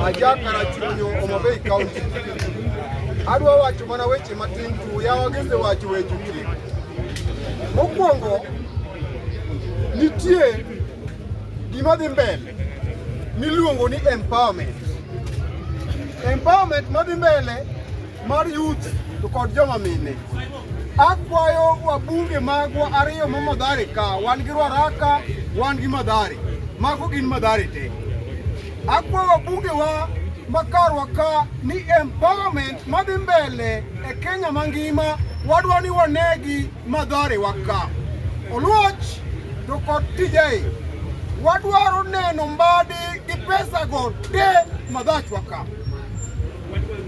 Aja Karachuonyo, Homa Bay County. Adwa wacho mana weche matin tu, yawa gese wacho weche tu. Mokwongo, nitie gima dhi mbele miluongo ni empowerment. Empowerment madhi mbele mar youth to kod joma mine. Akwayo wabunge magwa ariyo ma Madhare ka, wan gi Ruaraka, wan gi Madhare. Mago gin Madhare te. Akwayo wabunge wa makarwa ka ni empowerment madhi mbele e Kenya mangima wadwa ni wanegi Madhare wa ka. Oluoch to kod tijei wadwaro neno mbadi gi pesa go te Madhachwa ka.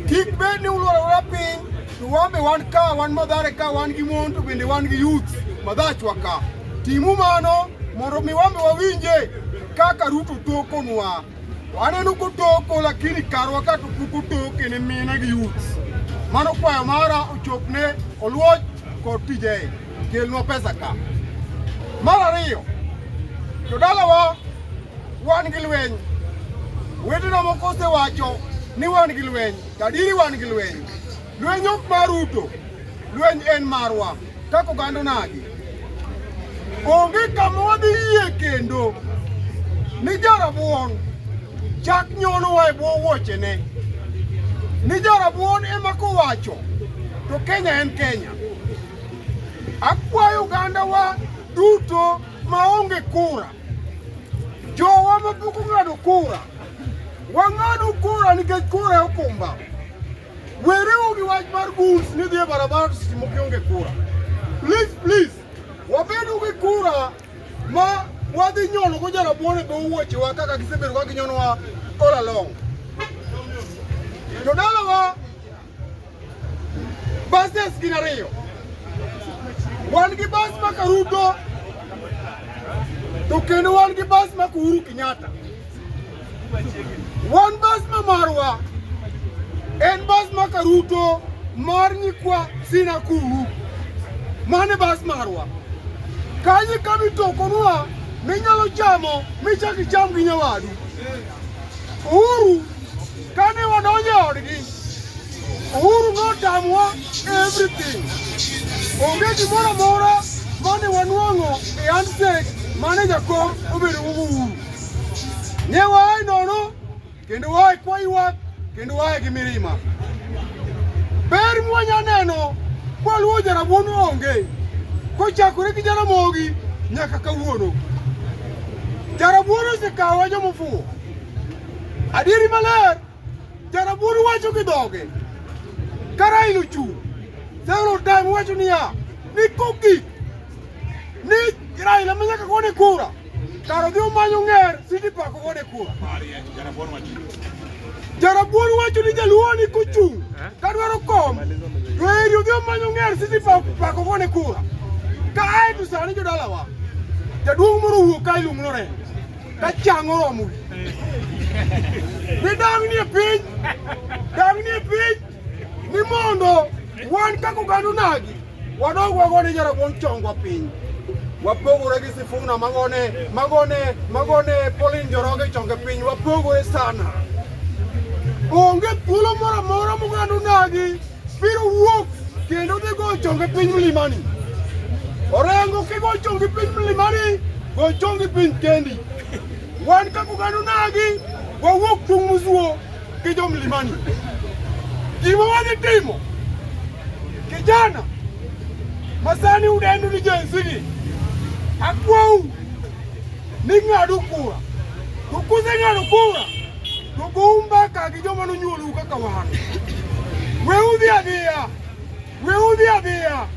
Kik bed ni ulworowa piny to wan be wan ka wan madhare ka wan gi mon to bende wan gi youth madhachwa ka. Timu mano mondo mi wan be wawinje kaka Ruto tokonwa. Waneno kotoko lakini karwa ka to pok otoke ne mine gi youth. Mano kwayo mara ochopne Oluoch kod tije. kelnwa pesa ka. Mar ariyo, jodalawa wan gi lweny. Wetewa moko osewacho ni wan gi lweny, tadiri wan gi lweny. Lweny ok mar Ruto, lweny en marwa kaka oganda nagi. Onge kama wadhi yie kendo ni jarabuon chak nyonowa e bwo wuochene. Ni jarabuon ema kowacho to Kenya en Kenya. Akwayo ogandawa duto maonge kura, jowa mapok ong'ado kura, wang'ado kura nikech kura e okumba. Wereuru gi wach mar guns ni dhi e barabara to seche moko ionge kura. Please, please, wabedo gi kura ma wadhi nyono go jarabuon e dho wuochewa kaka gisebedo ka ginyonowa all along. Jodalawa Buses gin ariyo. Wan gi bus ma Karuto to kendo wan gi bus ma Uhuru Kenyatta. Wan bus ma marwa en bus ma Karuto mar nyikwa Sinakuru. Mane bus marwa. Kanyo kama itokonwa minyalo chamo michak icham gi nyawadu. Uhuru kane wadonjo e odgi Uhuru notamwa everything. Onge gimoro amora mane wanwang'o e handshake mane jakom obedo go Uhuru. Ne waaye nono kendo waaye kwa ywak kendo waaye gi mirima. Ber mwanya neno kwaluwo jarabuon onge kochakore gi jaramogi nyaka kawuono. Jarabuon osekawa jomofuwo. Adieri maler Jarabuon wacho gi dhoge kara ilo chung' several time wacho niya ni kogik ni Raila ma nyaka gone kura kara odhi omanyo ng'er City Park ogone kura. Jarabuon wacho ni jaluo ni kochung' ka dwaro kom to eri odhi omanyo ng'er City Park Park ogone kura. Ka ae to sani jodalawa jaduong' moro wuok ka iluongo Lorenz ka chang oromo wi ni dang ni e piny dang ni e piny ni mondo wan kaka oganda onagi wadog wagone jarabuon chongwa piny wapogore gi sifuna magone magone magone polin joroge chonge piny wapogore sana onge thuolo moro amora moganda onagi Biro wuok kendo dhi go chonge piny mlimani. Orengo kigo chonge piny mlimani, go chonge piny kendi. Wan kaka oganda onagi, wawuok chung' musuo gi jo mlimani. Gima wadhi timo, kijana masani udendo ni Gen Z, akwau ning'adu kura to kuseng'ado kura to goumba ka gi joma nonyuolou kaka wan we udhi adhiya we udhi adhiya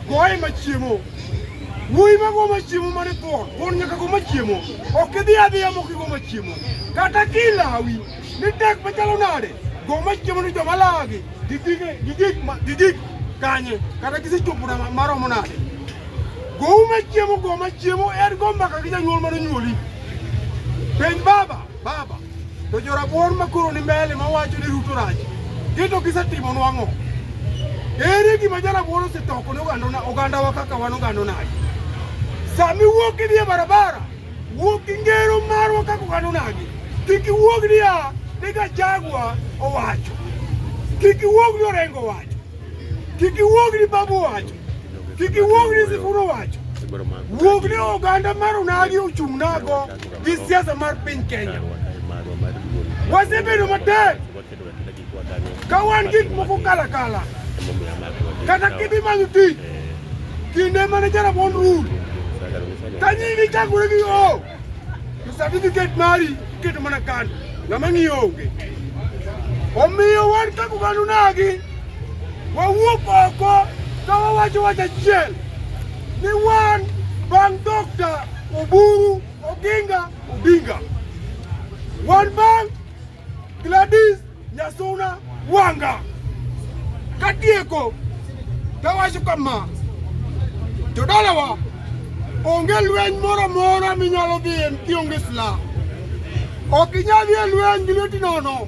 goye machiemo wuoyi mago machiemo mane thuon thuon nyaka go machiemo ok idhi adhiya mok igo machiemo kata kilawi ni tek machalo nade go machiemo ni joma lagi Gigik kanye kata gisechopo na maromo nade? Gowu machiemo go machiemo en go mbaka gi janyuol mane onyuoli. Penj baba, baba, to jorabuor makoro ni mbele mawacho ni Ruto rach, gito gisetimo nwang'o. Ere gima jarabuor osetoko ne ogandawa kaka wan ogandonagi? Sami wuok idhi e barabara Wuog gi ngero marwa kaka oganda onagi. Kik iwuog niya ni Gachagua owacho. Kik iwuog ni Orengo owacho. Kik iwuog ni Babu owacho. Kik iwuog ni Sifuna owacho. Wuog ni oganda mar onagi ochung' nago gi siasa mar piny Kenya. Wasebedo matek ka wan gik moko kala kala kata kibi manyo tich kinde mane jarabon rul ka nyingi chakore gi o certificate mari iketo mana kando ng'ama ng'iyo onge omiyo wan kaka oganda nagi wawuok oko ka wawacho wach achiel ni wan bang' dokta oburu oginga odinga wan bang' Gladys Nyasuna Wanga katieko tawacho kama jodalawa onge lweny moro amora minyalo dhiye kionge silaha ok inyal dhiye lweny gi lweti nono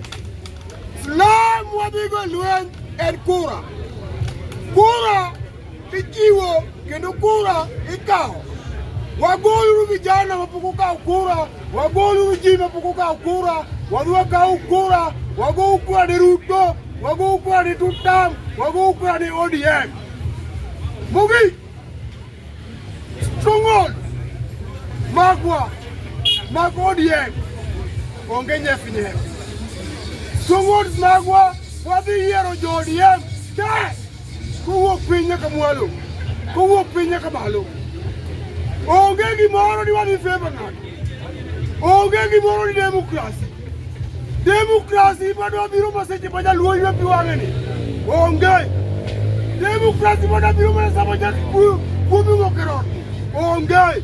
silaha mwadhigo e lweny en kura kura Ichiwo kendo kura ikawo. Wagoluru vijana mapok okawo kura, wagoluru ji mapok okawo kura, wadwa kawo kura, wago kura ni Ruto, wago kura ni Tutam, wago kura ni ODM. Mogik, stronghold magwa mag ODM onge nyefi nyefi. Strongholds magwa wadhi yiero jo ODM te. kowuok piny nyaka mwalo, kowuok piny nyaka malo. Onge gimoro ni wan in favor ng'ato, onge gimoro ni demokrasi. Demokrasi madwa biro maseche ma jaluo ywe pi wang'e ni onge. Demokrasi madwa biro mana sama jakikuyu kuomi ng'okerot onge.